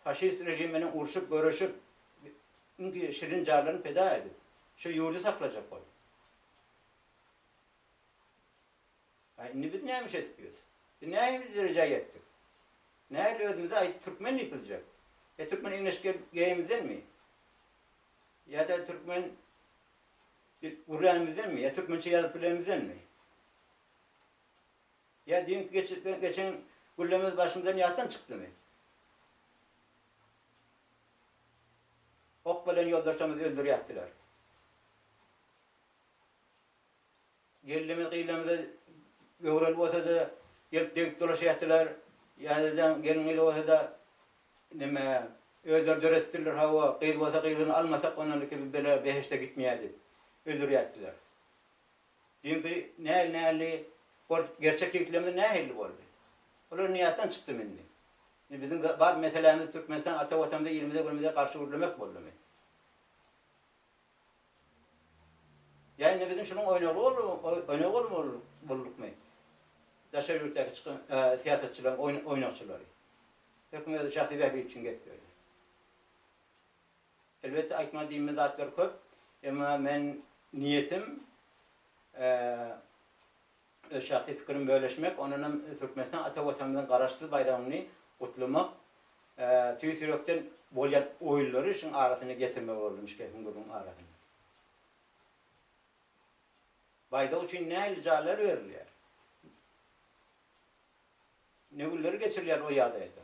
faşist režim menen urşup, göreşip, iňki şirin jarlaryny pida edip, şu ýurdy saklajak bolup. A indi biz näme iş edip ýörüs? Biz nähili derejä ýetdik? Nähili özümize aýdyp türkmen diýip biljek? E türkmen eňleşge geýenimizdenmi? Ýa-da türkmen gürlänimizdenmi? Ýa türkmençe ýazyp bilenimizdenmi? Ýa düýnki geçirtgen geçen güllemiz başymyzdan ýatdan çykdymy? Ok bilen ýoldaşlarymyzy öldürýäpdiler. Gelnimiz gyzlarymyza göwreli bolsa-da gelip degip dolaşýatdylar. Ýazyjylaň gelin gyzy bolsa-da neme, özleri döredipdirler hawa, gyz bolsa gyzlygyny almasak ondan iki bela behişde gitmeýär diýip öldürýäpdiler. Düýnki näl näli bor gerçek ýigitlerimiz nähilli boldy. Olar niýatdan çykdymy indi. Indi biziň bar meselämiz Türkmenistan ata watanymyza ilimize günümize garşy gürlemek boldumy. Ýa indi biziň şunuň oýnagly boldumy oýnagy bolmaly boldukmy. Daşary ýurtdaky çykan syýasatçylaryň oýnakçylary. Herkim özi şahsy bähbit üçin gezip ýörler. Elbetde aýtmaly diýme zatlar köp, emma men niýetim öz şahsy pikirim bölüşmek, ondanam Türkmenistan ata Watanymyzyň Garaşsyz baýragyny gutlamak, tüýs ýürekden bolýan oýlary şuň arasyna getirmek boldy müşgil hüňňüriň arasyna. Baýdak üçin nähili jaýlar berilýär? Ne günleri geçirilýär o ýagdaýda.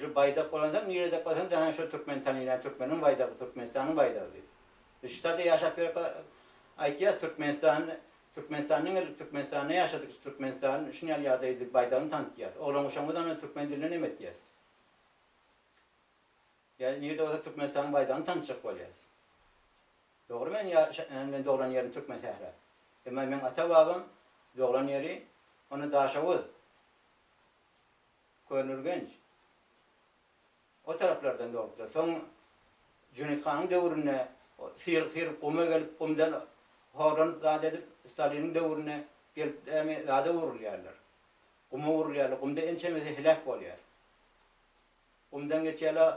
Şu baýdak bolansoň nirede ykmasaň da hä şo türkmeni tanylýar, türkmeniň baýdagy, Türkmenistanyň baýdagy diýip. Biz şu taýda ýaşap ýörka aýtýas Türkmenistan, Türkmenistan diňe ellik Türkmenistanda ýaşadyk, Türkmenistan şuny ýaly ýagdaý diýip baýdagyny tanydýas. Oglan-guşagymyz ony türkmen dilinde neme etýäs. Ýa nirede bolsa Türkmenistanyň baýdagyny tanatjak bolýas. Dogry men ýa men doglan ýerim Türkmen sähra. Emma meň ata babam doglan ýeri ony Daşoguz, Köneürgenç o taraplardan doglupdyr. Soň Jüneýit hanyň döwründe syryp syryp guma gelip gumdan horlanyp zat edip Staliniň döwründe gelip dämi zada urulýarlar. Guma urulýarlar. Gumda ençemesi heläk bolýar. Gumdan geçýärler,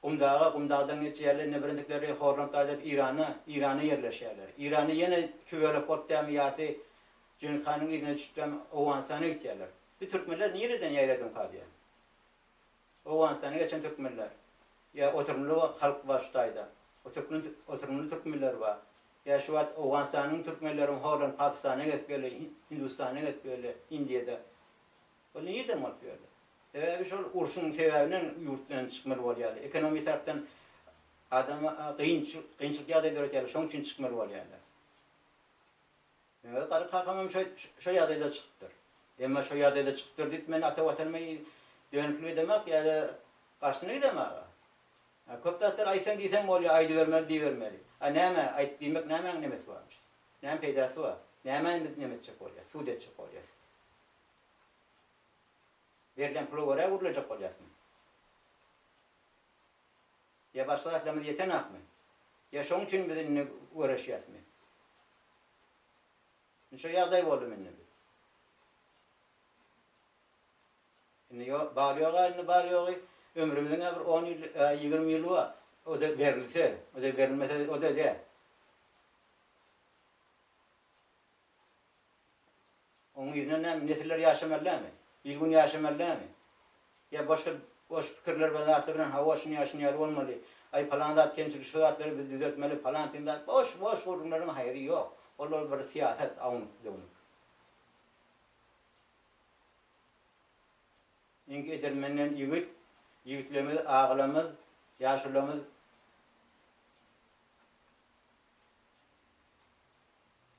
gumdaga, gumdagdan geçýärler, indi birindikleri horlanyp gaýdyp Irana, Irana ýerleşýärler. Iranda ýene iki bölek bolup dämi ýarysy Jüňüz hanyň yzyna düşüp dämi Owganystana gitýärler. Bu türkmenler nireden ýaýradymyka diýýän. Owganystana geçen türkmenler. Ýa oturymly halk bar şu taýda. Oturkmyn oturymly türkmenler bar. Ýa şu wagt Owganystanyň türkmenleriň horlanyp Pakistana geçip geldi, Hindistana geçip geldi, Indiýada. Bu nirden bolup bu ýerde? Sebäbi şol urşuň sebäbinden ýurtdan çykmaly bolýarlar. Ekonomi tarapdan adama kynçylykly ýagdaý döretýärler, şoň üçin çykmaly bolýarlar. Öz garry kakamam şo ýagdaýda çykypdyr. Emma şo ýagdaýda çykypdyr diýip men ata watanyma dönüklik edemak ýa-da garşysyna gidemak. A köp zatlar aýtsaň diýseň bolýar, aýdybermeli diýibermeli. A näme, aýt diýmek nämäň nemesi bar? Näme peýdasy bar? Nämä biz neme etjek bolýas? Sud etjek bolýas. Berlen pula görä gürlejek bolýasmy? Ýa başga zatlarymyz ýetenakmy? Ýa şoň üçin biz indi göreşýäsmi? Indi şo ýagdaý boldum indi biz. Indi ýo, bar ýoga indi bar ýogy ömrümiziň-ä bir on ýyl, ýa ýigrimi ýyly bar. O-da berilse, o-da berilmese, o-da däl. Onuň yzyna näme, nesiller ýaşamaly dälmi? Il-gün ýaşamaly dälmi? Ýa boş, boş pikirler we zatlar bilen hawa, şuny ýa şuny ýaly bolmaly, aý palan zat kemçilik, şu zatlary biz düzeltmeli, palan-pim zat, boş, boş gürrüňleriň haýry ýok. Olar bir syýasat, awnuk-döwnük. Iňki edermenden ýigit, ýigitlerimiz, agalarymyz, ýaşulamyz,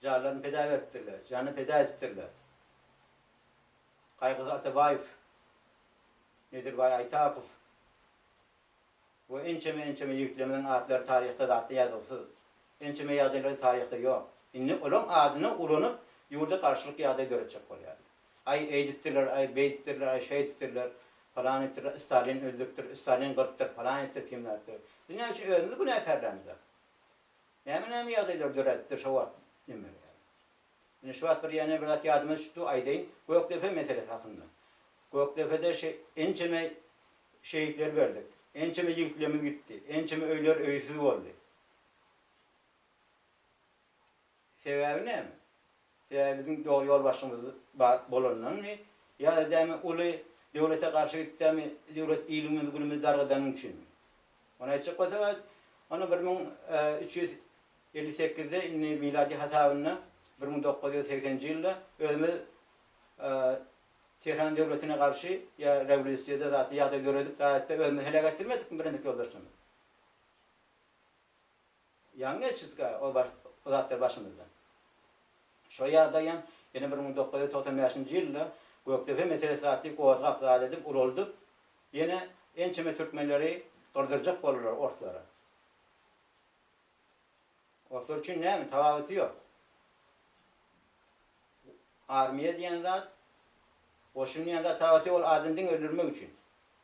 Janlaryny peda beripdirler, janyny peda edipdirler. Kaýgyzy Atabaýew, Nedirbaý Aýtapow we ençeme-ençeme ýigitlerimiziň atlary taryhda zatly ýazgysyz. Ençeme ýagdaýlary taryhda ýok. Indi olaryň adyny ulanyp, ýurda garşylyk ýagdaýy döretjek bolýarlar. Aý, eýdipdirler, aý, beýdipdirler, aý, şeýdipdirler, falan edipdirler, Stalin öldüripdir, Stalin gyrpdyr, falan etdir, pimläpdir. Biz näme üçin özümizi günäkärlämizok? Näme näme ýagdaýlar döredipdir şo wagt neme bilerin. Indi şu wagt bir ýene bir zat ýadyma düşüpdi aýdaýyn Gökdepe meselesi hakynda. Gökdepede şe ençeme şehitler berdik. Ençeme ýigitlerimiz gitdi. Ençeme öýler öýsüz boldy. Sebäbi näme? Ýa biziň dogry ýolbaşçymyz bar bolandanmy, ýa-da däme uly döwlete garşy gidip däme döwlet ilimizi günümizi dargadanyň üçinmi? Ony aýtjak bolsaňyz, onda bir müň üç ýüz elli sekizde indi miladi hasabynda bir müň dokuz ýüz segsenji ýylda özümiz Tehran döwletine garşy ýa rewlýusiýada zatly ýagdaý döredip, gaýatda özümizi heläk etdirmedikmi Birendik ýoldaşlarymyz? Ýaňy geçirdik-ä ol zatlary başymyzdan. Şo ýagdaý hem ýene bir müň dokuz ýüz togsan bäşinji ýylda Gökdepe meselesi atly gozgap zat edip ulaldyp, ýene ençeme türkmenleri gyrdyrjak boldular orslara. Orslar üçin näme, tapawuty ýok. Armiýa diýen zat, goşun diýen zat tapawuty ýok, ol adamy diňe öldürmek üçin.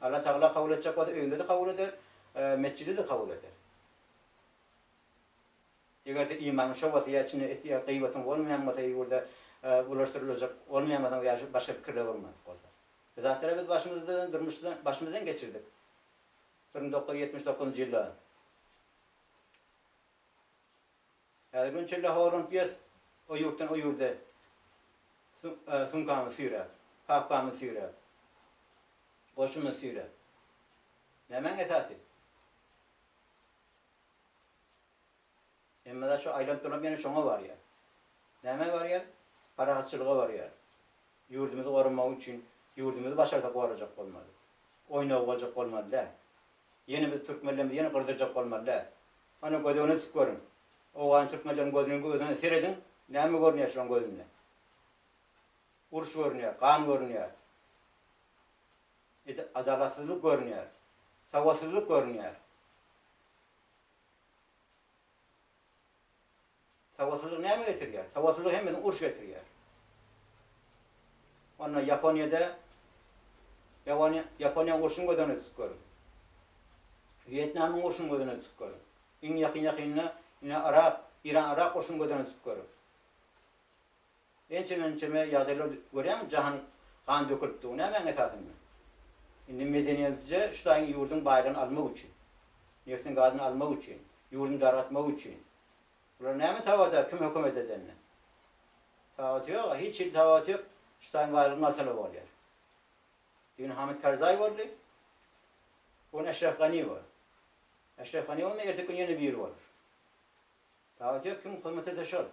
Alla Tagala kabul etjek bolsa öýüni-de kabul eder, metjidi-de kabul eder. Eger-de imanyň şobasy ýa içinde et ýa gyýbatyň bolmaýan bolsa ýurda ulaşdyryljak bolmaýan bolsaň ýa şu başga pikirler bolmadyk bolsa. Bizatlary biz başymyzdan durmuşda başymyzdan geçirdik. Bir müň dokuz ýüz ýetmiş dokuzynjy ýylda. Häzir gün çölle horlanyp ýös, O ýurtdan o ýurda sumkamyzy süýräp, papkamyzy süýräp, goşumyzy süýräp. Nämäň esasy? Hemme zat şu aýlanyp-dolanyp ýene şoňa barýar. Nämä barýar? Parahatçylyga barýar. Ýurdumyzy goramagy üçin ýurdumyzy başarsa gorajak bolmaly. Oýnawy boljak bolmaly däl. Ýene biz türkmenlerimiz ýene gyrdyljak bolmaly däl. Ana göz öňüne tutup görüň. Owgan türkmenleriň gözüniň özüne serediň, näme görünýär şolaň gözünde? Uruş görünýär, gan görünýär. Ede adalatsyzlyk görünýär. Sawatsyzlyk görünýär. Sowatlylyk näme getirýär? Sowatlylyk hemmesine uruş getirýär. Onda Ýaponiýada Ýaponiýaň urşuny göz öňüne tutup görüň. Wýetnamyň urşuny göz öňüne tutup görüň. Iň ýakyn ýakynda ine arap, iran-arap urşuny göz öňüne tutup görüň. Ençeme ençeme ýagdaýlar görýäňmi jahan gan dökülipdi. Bu nämäň esasynda? Indi medeniýetsizce şu taýyň ýurduň baýlygyny almak üçin. Neftin gazyny almak üçin. Ýurduny dargatmak üçin. Bular näme tabata kim hökümet edende. Tabaty ýoga hiç hili tabaty ýok şutaýyň baýlygyny alsana bolýar. Düýn Hamid Karzaý boldy. Bu gün Eşref Gani bor. Eşref Gani bolmasa erteki gün ýene biri bolar. Tabaty ýok kim hyzmat etse şol.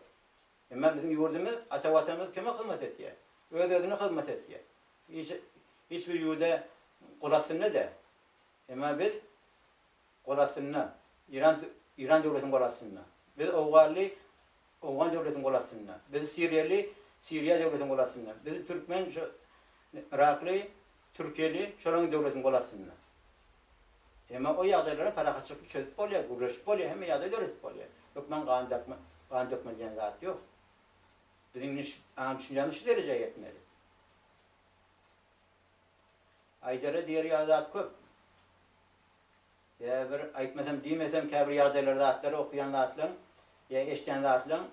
Emma biziň ýurdumyz ata watanymyz kime hyzmat etýär? Öz özüne hyzmat etýär. Hiç hiç bir ýurda gul astynda däl. Emma biz gol astynda, Iran Iran döwletiň gol astynda. Biz owganly Owgan döwletiň gol astynda. Biz siriýaly Siriýa döwletiň gol astynda. Biz türkmen şu yrakly, türkiýeli şolaryň döwletiň gol astynda. Emma o ýagdaýlara parahatçylykly çözüp bolýar, gürleşip bolýar, hemme ýagdaý döredip bolýar. Hökman gan dakma, gan dökme diýen zat ýok. Biziň indi şu aň düşünjämiz şu derejä ýetmeli. Aýdara diýer ýaly zat köp. Ýa bir aýtmasam, diýmesem käbir ýagdaýlar zatlary okaýan zatlaň ýa eşdýän zatlaň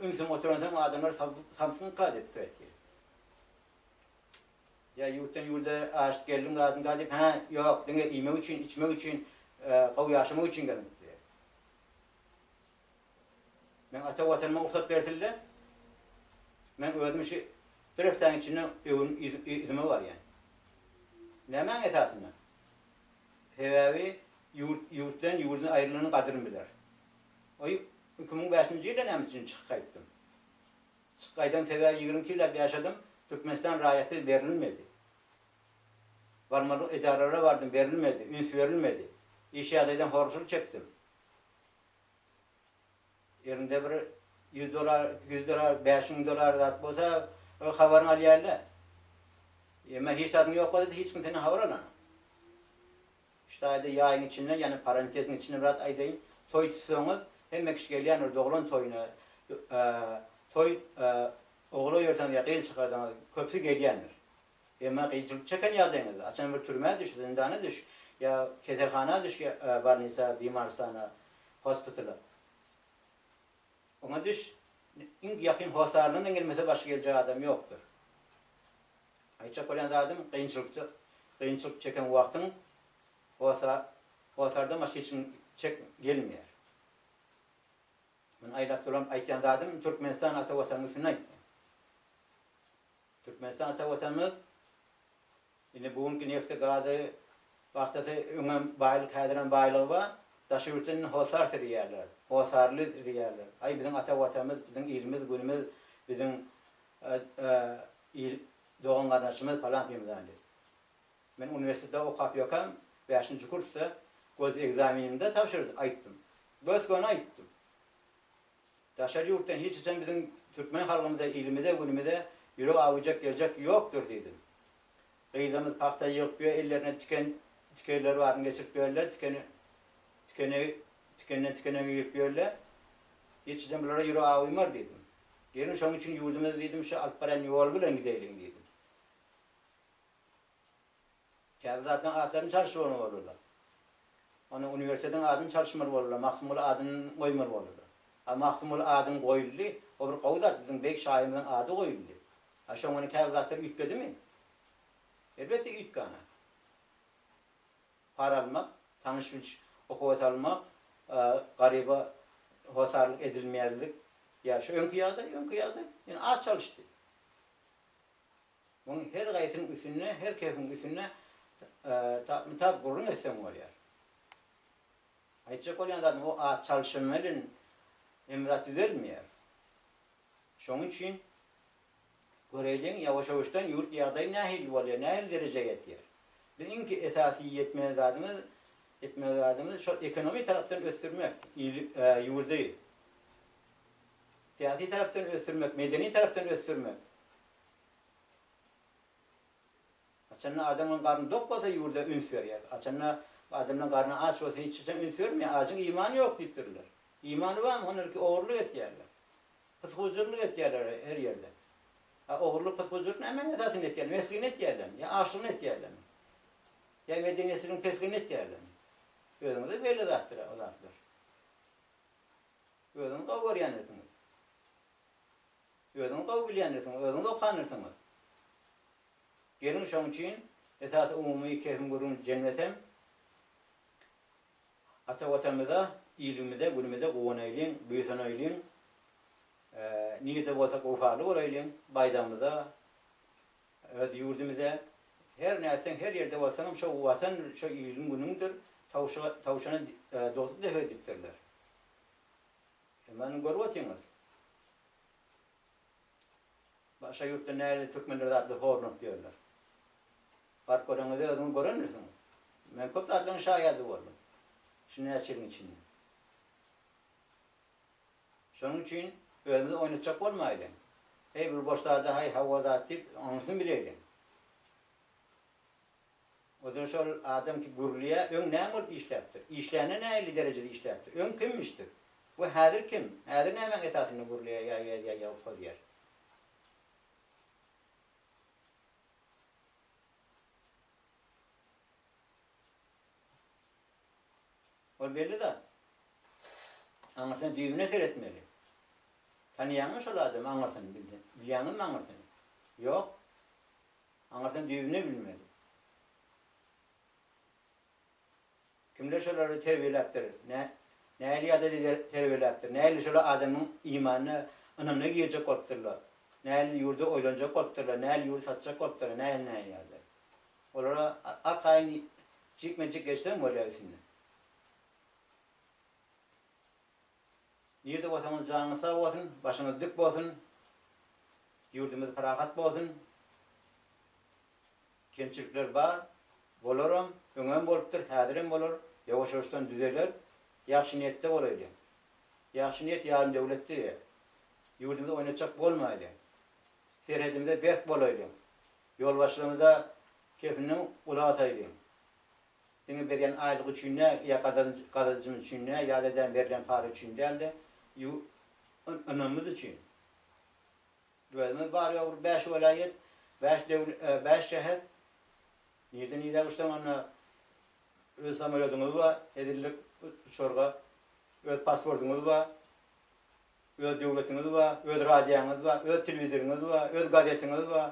ünsüň oturansoň adamlar samsynka diýip pikir etýär. Ýa ýurtdan ýurda aşyp geldiň zadynka diýip, hä, ýok, diňe iýmek üçin, içmek üçin, gowy ýaşamak üçin geldim diýýär. Meň ata Watanyma rugsat bersin-le, men özüm şu bir hepdäniň içinde öwüm yzyma barýan. Nämäň esasynda? Sebäbi ýurt ýurt bilen ýurduň aýrylanyň gadryn biler. Oý, iki müň bäşinji ýylda näme üçin çykyp gaýtdym? Çykyp gaýdam sebäbi ýigrimi iki ýyllap ýaşadym, Türkmenistan raýaty berilmedi. Barmaly edaralara bardym, berilmedi, üns berilmedi. Iş ýagdaýdan horagçylyk çekdim. Elinde bir ýüz dolar, iki ýüz dolar, bäş müň dolar zat bolsa, ol habaryny alýarlar. Emma hiç zadyň ýok bolsa-da hiç kim senden habar alan. Ştaýda ýaýyň içinde, ýagny parantesiň içinde bir zat aýdaýyn, toý tutsaňyz, hemme kişi gelýändir doglan toýuna. Toý ogla ýörseňiz ýa gyz çykarsaňyz, köpüsi gelýändir. Emma kynçylyk çeken ýagdaýyňyzda, haçan bir türmä düş, zyndana düş, ýa keselhana düş, ýa bolnisa, bimarystana, hospitala, oňa düş, iň ýakyn hossaryndan-da gelmese başga geljek adam ýokdur. Aýtjak bolýan zadym, kynçylykda, kynçylyk çeken wagtyň hossa, hossardan başga hiç kim çek, gelmeýär. Men aýlap dolanyp aýtýan zadym, Türkmenistan ata Watanyň üstüne aýtýan. Türkmenistan ata Watanymyz indi bu günki nefti gazy pagtasy öňem baýlyk häzirem baýlygy bar. Daşary ýurtlar indi hossar sürýärler. Hossarly sürýärler. Aý biziň ata Watanymyz biziň ilimiz günümiz biziň il dogan garnaşymyz palan pymyzan diýip. Men uniwersitetde okap ýökäm bäşinji kursda gosegzaminimde tabşyrdy aýtdym. Gös göni aýtdym. Daşary ýurtdan hiç haçan biziň türkmen halkymyza, ilimize, günümize ýürek awujak geljek ýokdur diýdim. Gyzlarymyz pagta ýygyp ýör, ellerine tiken tikerleri baryny geçirip ýörler, tiken tikenegi tikenden tikenegi ýygyp ýörler. Hiç haçan bulara ýürek awymar diýdim. Geliň şonuň üçin ýurdumyzy diýdim şu alyp barýan ýoly bilen gideýliň diýdim. Käbir zatlaryň atlaryny çalyşyp ony bolurlar. Onda uniwersitetiň adyny çalyşmaly bolurlar, Magtymguly adyny goýmaly bolurlar. A Magtymguly adyny goýuldy, o bir gowy zat, biziň beýik şahyrymyzyň ady goýuldy. A şoň bilen käbir zatlar üýtgedimi? Elbetde üýtgänok. Para almak, tanyş-bilş okuwa salmak, garyba hossarlyk edilmezlik, ýa şu öňki ýagdaý, öňki ýagdaý. Ýöne at çalyşdy. Muň her gaýsynyň üstünde, her kefiň üstünde tapmy-tap gürrüň etseň bolýar. Aýtjak bolýan zadym, o at çalşymy bilen Emrat düzelmeýär. Şonuň üçin göreýliň, ýawaş-ýawaşdan ýurt ýagdaýy nähili bolýar, nähili derejä ýetýär. Biz iň esasy ýetmeli zadymyz, etmeli zadymyz şol ekonomi tarapdan ösdürmek, ili, ýurdy. Syýasy tarapdan ösdürmek, medeni tarapdan ösdürmek. Haçanda adamyň garny dok bolsa ýurda üns berýär. Haçanda adamyň garny aç bolsa hiç haçan üns bermeýär. Ajyň imany ýok diýipdirler. Imany barmy? Onda ilki ogurlyk etýärler. Pysgujyrlyk etýärler her ýerde. A ogurlyk, pysgujyrlyk nämäniň esasynda etýärler? Mesgini etýärlermi? Ýa açlygyny etýärlermi? Ýa medeniýetsizligiň pesgini etýärlermi? Özüňize belli zatdyr o zatlar. Özüňiz gowy görýändirsiňiz. Özüňiz gowy bilýändirsiňiz, özüňiz okandirsiňiz. Geliň şoň üçin esasy umumy kehim gürrüň jemlesem, ata Watanymyza, ilimize, günümize guwanaýlyň, buýsanaýlyň, nirde bolsak wepaly bolaýlyň, baýdagymyza, öz ýurdumyza, her nätseň, her ýerde bolsaňam şo Watandyr, şo iliň-günüňdir, tawşana dogduk dek öýdüpdirler. Siz many görüp otyňyz. Başga ýurtda näle türkmenler zatly horlanyp ýörler. Baryp göreňizde özüňiz görendirsiňiz. Men köp zatlaryň şaýady boldum. Şu näçe ýylyň içinde. Şonuň üçin özümizi oýnatjak bolmaýlyň. Heý bul boş zada haý hawa zat diýip oňursyn bileýliň. Özüni şol adam ki gürlýä öň näme bolup işläpdir? Işlände näilli derejede işläpdir? Öň kimmişdir? We häzir kim? Häzir nämäň esasynda gürlýä ýa ýazýa ýa hozýär? Ol belli zat. Aňyrsyna düýbüne seretmeli. Tanýaňmy şol adamy aňyrsyny bilýäňizmi aňyrsyny? Ýok. Aňyrsyna düýbüne bilmeli. Kimler şolary terbiýeläpdir, nä, nähili ýadada terbiýeläpdir, nähili şolar adamyň imanyna, ynamyna girjek bolupdyrlar, nähili ýurdy oýlanjak bolupdyrlar, nähili ýurdy satjak bolupdyrlar, nähili näýärler. Olara arkaýyn jikme-jik geçseň bolýar üstünden. Nirde bolsaňyz janyňyz sag bolsun, başyňyz dik bolsun, ýurdumyz parahat bolsun. Kemçilikler bar, bolaram, öňem bolupdyr, häzirem bolar, ýawaş-ýawaşdan düzeler. Ýagşy niýetde bolaýly. Ýagşy niýet ýarym döwlet diýýär. Ýurdumyzy oýnatjak bolmaýly. Serhedimize berk bolaýly. Ýolbaşçylarymyza kepiniň uly asaýly. Diňe berýän aýlygy üçin däl, ýa gazanjymyz üçin däl, ýa-da edän berlen para üçin däl-de, ynamymyz üçin. Özümiz bary-ýogy bäş welaýat, bäş bäş şäher. Nireden nirä uçsaň onda öz samolýodyňyz bar, hezillik uçarga, öz pasportyňyz bar, öz döwletiňiz bar, öz radioňyz bar, öz telewizoryňyz bar, öz gazetiňiz bar.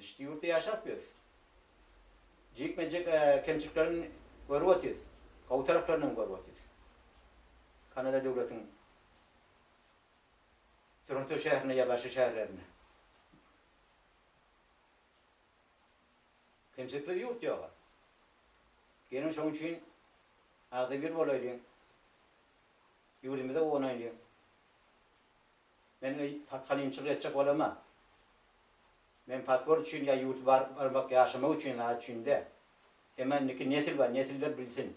Şt ýurtda ýaşap ýörüs. Jikme jik kemçiliklerini görüp otyrys. Gowy taraplaryny hem görüp otyrys. Kanada döwletiň Toronto şäherinde ýa başga şäherlerinde. Kemçiliksiz ýurt ýoga. Geliň şoň üçin agzybir bolaýlyň. Ýurdumyza gowanaýlyň. Men patgalimçilik etjek bolama. Men pasport üçin ýa ýurda baryp barmak, ýaşamak üçin zat üçin däl. Emma indiki nesil bar, nesiller bilsin.